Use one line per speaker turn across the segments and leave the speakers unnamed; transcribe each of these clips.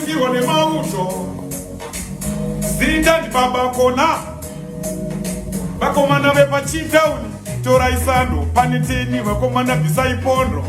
Siwa nemauto zita ndibaba kona vakomana vepachitown torai sando pane teni vakomana bvisai pondo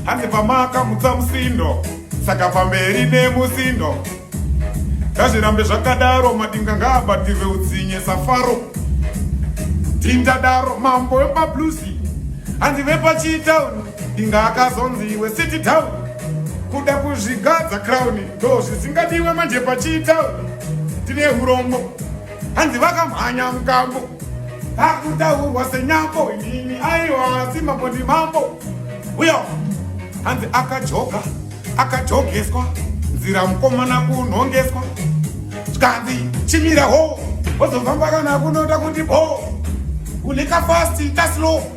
hanzi pamaka mutsa musindo saka pamberi nemusindo ngazvirambe zvakadaro madinga ngaabatirwe utsinye safaro tindadaro mambo wepablusi hanzi vepachitown inga akazonzi iwe city town kuda kuzvigadza crown ndo zvisingadiwe manje pachitown tine urombo hanzi vakamhanya mukambo akutaurwa senyambo ini aiwa simambo ndimambo uyo hanzi akajoga akajogeswa nzira mukomana kunhongeswa zvikanzi chimira ho wozofamba kana kunoda kuti bho kulika fast taslow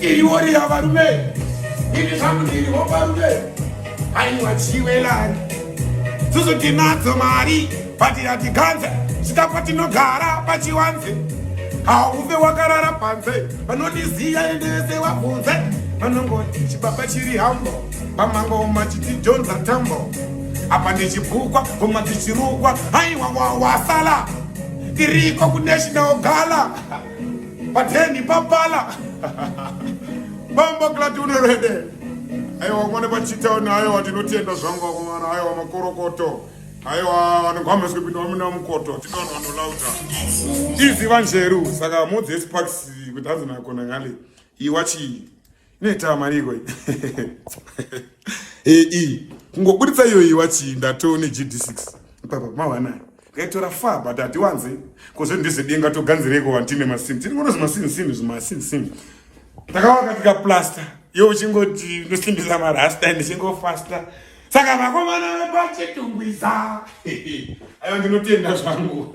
Iriori yavarume ini zvangu ndiri hoparume aiwa chiwelani susu tinadzo mari patiratiganze sitapa tinogara pachiwanze hauve wakarara panze vanondiziya ende vese wabvunze vanongoti chibaba chiri hambo pamango machiti jonza tambo apa ndichibukwa vomwa tichirukwa haiwa wawasala tiriko kunational gala Pateni papala. Bambo klati unorede. Aiwa mwana pachitawo nayo watinotenda zvangu wakomana aiwa makorokoto. Aiwa vanogwamba sikupinda wamina mukoto. Tinono vanolauta. Izi vanjeru saka mudzi esparks kuti hanzi nakona ngale. Iwachi Inoita mari iko. Eh eh. Kungoburitsa iyo iwa chi ndato ne GD6. Papa mawana. Ngaitora fa but atiwanze. Kozo ndize denga to ganzireko wantine masin. Tiri ngono zmasin sin zmasin sin. Takawaka tika plaster. Yo uchingoti ndosimbisa marasta and chingo faster. Saka vakomana vepachitungwiza. Ayo ndinotenda zvangu.